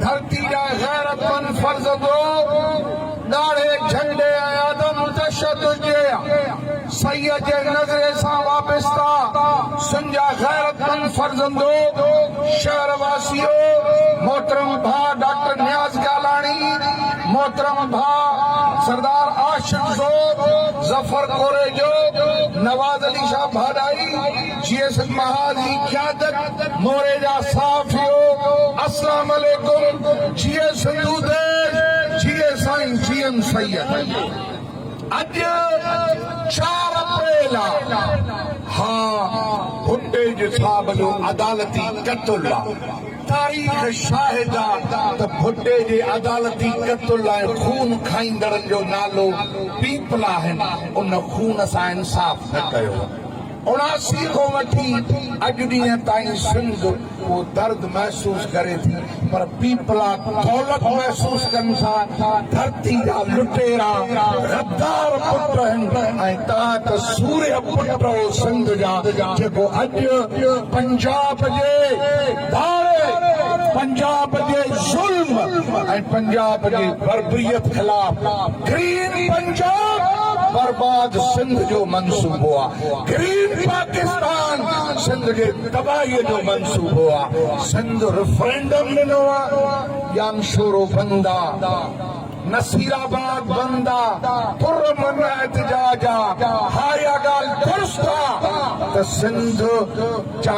ڌرتي جا غيرتمند فرض گو ڳاڙهي جهنڊي ۽ عدم تشدد جي سيّ جي نظري سان وابسته سن جا غيرتمند فرزندو، شهر واسيو، محترم ڀاء ڊاڪٽر نياز گالاڻي، محترم ڀاء سردار عاشق زوب، ظفر ڪوريجو، نواز علي شاهه ڀاڏائي، جي ايس مهاجن جي قيادت موري جا صحافيو اسلام عليڪم جي ايس دوديش جي اي سائين جي ايم سيد اڄ چار اپريل آ ها ڀٽي جي صاحب جو عدالتي قتل آ تاريخ شاهد آ ته ڀٽي جي عدالتي قتل ۽ خون کائيندڙن جو نالو پيپلا هن ان خون سان انصاف نه ڪيو اڻاسي کان وٺي اڄ ڏينهن تائين سنڌ اهو درد محسوس ڪري ٿي پر پيپلا دولت محسوس ڪن ٿا، ڌرتي جا لٽيرا غدار پٽ آهن ۽ توهان ته سورهيه پٽ آهو سنڌ جا جيڪو اڄ پنجاب جي. ڌاري پنجاب جي ظلم ۽ پنجاب جي بربريت خلاف گرين پنجاب برباد سنڌ جو منصوبو آ گرين پاڪستان سنڌ جي تباهي جو منصوبو آ سنڌ رفرينڊم ڏنو آ ڄامشورو بند آ نصير آباد بند آ پر امن احتجاج آ ها اها ڳالهه درست آ ته سنڌ جا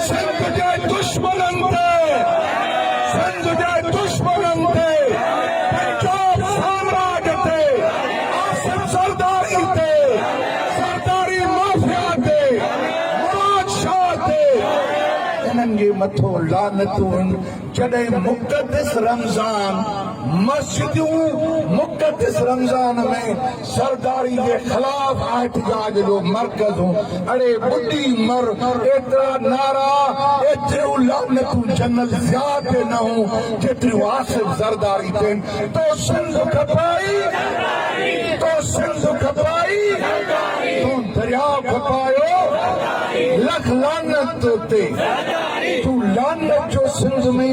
سنڌ جي دشمنن تي سنڌ جي دشمنن تي پنجاب سامراج تي آصف زرداري تي زرداري مافيا تي مراد شاهه تي انهن جي مٿو لعنتون جڏهن مقدس رمضان مسجدون مقدس رمضان ۾ سرداري جي خلاف احتجاج جو مرڪز اڙي ٻڏي مر ايترا نعرا ايتريون لعنتون جنرل ضياء تي نه هون جيتريون آصف زرداري تي تو سنڌ کپائي تو سنڌ کپائي تون درياء کپايو لک لعنت تو تي تون لعنت جو سنڌ ۾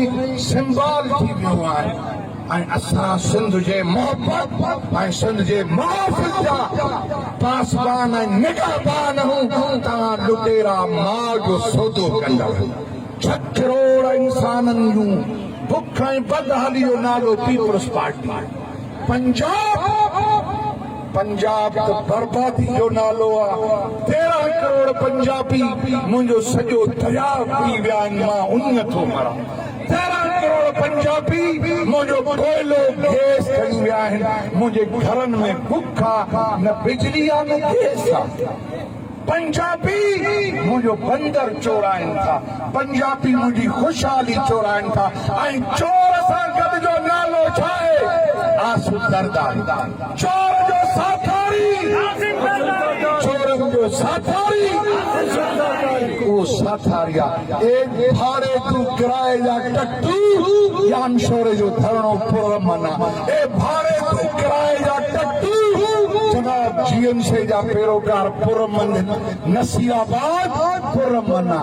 سمبال ٿي ويو آهين. ۽ اسان سنڌ جي محبت ۽ سنڌ جي محافظ جا پاسبان ۽ نگهبان آهون، توهان لٽيرا ماء جو سودو ڪندڙ. ڇهه ڪروڙ انسانن جون بک ۽ بدحالي جو نالو پيپلز پارٽي آهي. پنجاب پنجاب ته بربادي جو نالو آ. تيرهن ڪروڙ پنجابي منهنجو سڄو درياء پي ويا آهن مان انهيء ٿو مران. پنجاهه ڪروڙ پنجابي منهنجو ڪوئلو گيس ٺهي ويا آهن منهنجي گهرن ۾ بک آ نه بجلي آ نه گيس آ پنجابي منهنجو بندر چورائين ٿا پنجابي منهنجي خوشحالي چورائين ٿا ۽ چور سان گڏ جو نالو ڇا آهي آسو زرداري. چور جو ساٿاري، چورن جو ساٿاري، اهو ساٿاري آ، اي ڀاڙي تون ڪرائي جا ٽٽو يا انشوري جو ڌرڻو پر امن آ، اي ڀاڙي تون ڪرائي جا ٽٽو، جناب جي ايم سي جا پيروڪار پر امن، نصير آباد پر امن آ.